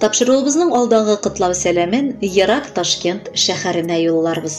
Тапшыруыбызның алдагы котлау сәламен ерак Ташкент шәһәренә юлларбыз.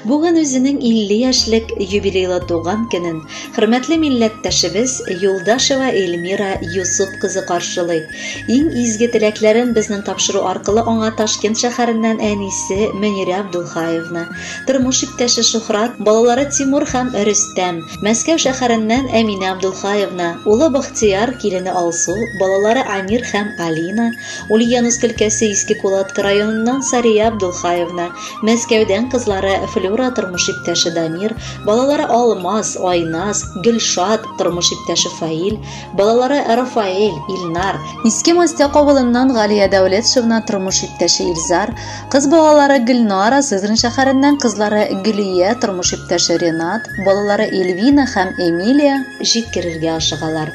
Бүген үзенең 50 яшьлек юбилейлы туган көнен хөрмәтле милләттәшебез Юлдашева Эльмира Юсуп кызы каршылый. Иң изге теләкләрен безнең тапшыру аркылы аңа Ташкент шәһәреннән әнисе Мөнирә Абдулхаевна, тормыш иптәше Шухрат, балалары Тимур һәм Рөстәм, Мәскәү шәһәреннән Әминә Абдулхаевна, улы Бахтияр, килене Алсу, балалары Амир һәм Алина, Ульяновск өлкәсе Иске Кулатка районыннан Сария Абдулхаевна, Мәскәүдән кызлары Флюра тормыш иптәше Дамир, балалары Алмаз, Айназ, Гөлшат, тормыш иптәше Фаил, балалары Рафаэль, Илнар, Иске Мостяк авылыннан Галия Дәүлетшевна, тормыш иптәше Илзар, Кыз балалары Гөлнара, Сызран шәһәреннән кызлары Гөлия, тормыш иптәше Ренат, балалары Эльвина һәм Эмилия җиткерергә ашыгалар.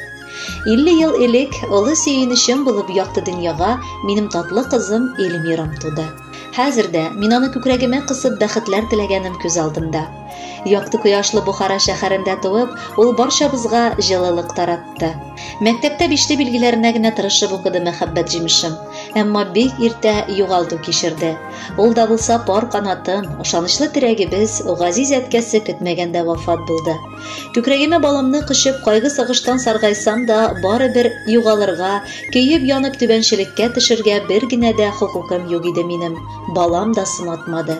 50 ел элек олы сөенечем булып якты дөньяга минем татлы кызым Эльмирам туды. Хәзер дә мин аны күкрәгемә кысып бәхетләр теләгәнем күз алдында. Якты кояшлы Бухара шәһәрендә туып, ул барчабызга җылылык таратты. Мәктәптә бишле билгеләренә генә тырышып укыды мәхәббәт җимешем. Әмма бик иртә югалту кичерде. Ул да булса пар канатым, ышанычлы терәгебез, газиз әткәсе көтмәгәндә вафат булды. Күкрәгемә баламны кочып, кайгы сагыштан саргайсам да, бары бер югалырга, көеп янып түбәнчелеккә төшергә бер генә дә хокукым юк иде минем. Балам да сынатмады.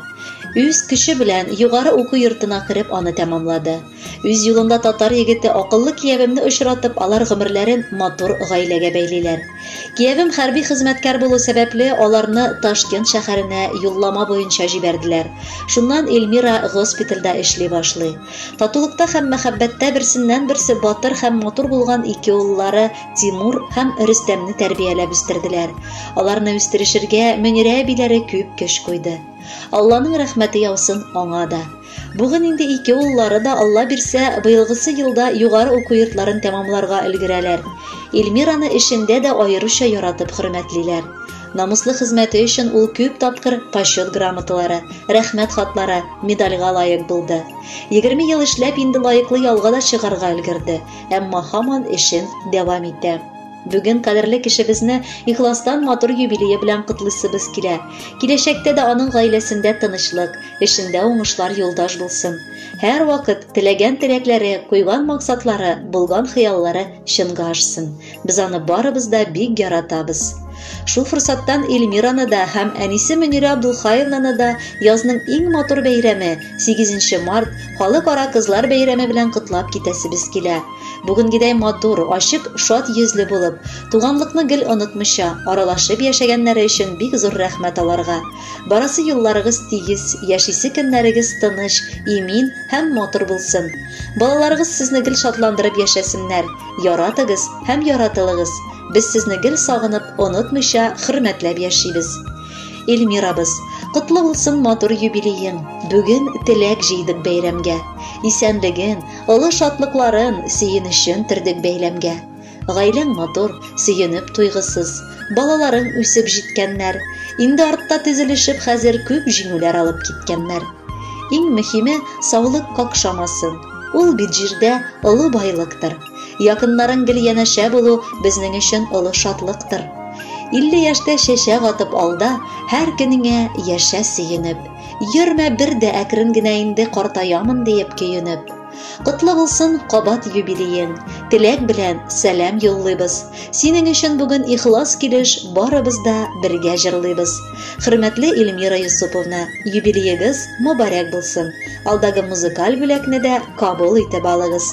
Үз көче белән югары уку йортына кереп аны тәмамлады. Үз юлында татар егете акыллы киявемне очратып, алар гомерләрен матур гаиләгә бәйлиләр. Киявем хәрби хезмәткәр булу сәбәпле, аларны Ташкент шәһәренә юллама буенча җибәрделәр. Шуннан Эльмира госпитальдә эшли башлый. Татулыкта һәм мәхәббәттә берсеннән-берсе батыр һәм матур булган ике уллары Тимур һәм Рөстәмне тәрбияләп үстерделәр. Аларны үстерешергә Мөнирә әбиләре күп көч куйды. Алланың рәхмәте яусын аңа да. Бүген инде ике уллары да, Алла бирсә, быелгысы елда югары уку йортларын тәмамларга өлгерәләр. Ильмираны эшендә дә аеруча яратып хөрмәтлиләр. Намуслы хезмәте өчен ул күп тапкыр Почет грамоталары, Рәхмәт хатлары, медальгә лаек булды. Егерме ел эшләп, инде лаеклы ялга да чыгарга өлгерде, әмма һаман эшен дәвам итә. Бүген кадерле кешебезне ихластан матур юбилее белән котлыйсыбыз килә. Киләчәктә дә аның гаиләсендә тынычлык, эшендә уңышлар юлдаш булсын. Һәр вакыт теләгән теләкләре, куйган максатлары, булган хыяллары чынга ашсын. Без аны барыбыз да бик яратабыз. Шул форсаттан Эльмираны да һәм әнисе Мөнирә Абдулхаевнаны да язның иң матур бәйрәме, 8 март, Халыкара кызлар бәйрәме белән котлап китәсебез килә. Бүгенгедәй матур, ачык, шат йөзле булып, туганлыкны гел онытмыйча, аралашып яшәгәннәре өчен бик зур рәхмәт аларга. Барасы юлларыгыз тигез, яшисе көннәрегез тыныч, имин һәм матур булсын. Балаларыгыз сезне гел шатландырып яшәсеннәр. Яратыгыз һәм яратылыгыз. Без сезне гел сагынып, онытмыйча, хөрмәтләп яшибез. Эльмирабыз, котлы булсын матур юбилеең. Бүген теләк җыйдык бәйрәмгә. Исәнлеген, Олы шатлыкларын, сөенечен төрдек бәйләмгә. Гаиләң матур, сөенеп туйгысыз. Балаларың үсеп җиткәннәр. Инде артта тезелешеп хәзер күп җиңүләр алып киткәннәр. Иң мөһиме, саулык какшамасын. Ул бит җирдә олы байлыктыр. Якыннарың гел янәшә булу безнең өчен олы шатлыктыр. 50 яшьтә чәчәк атып алда, һәр көнеңә яшә сөенеп. Йөрмә бер дә әкрен генә инде картаямын диеп көенеп. Котлы булсын кабат юбилеең. Теләк белән сәлам юллыйбыз. Синең өчен бүген ихлас килеш барыбыз да бергә җырлыйбыз. Хөрмәтле Эльмира Йосыповна, юбилеегыз мобарәк булсын. Алдагы музыкаль бүләкне дә кабул итеп алыгыз.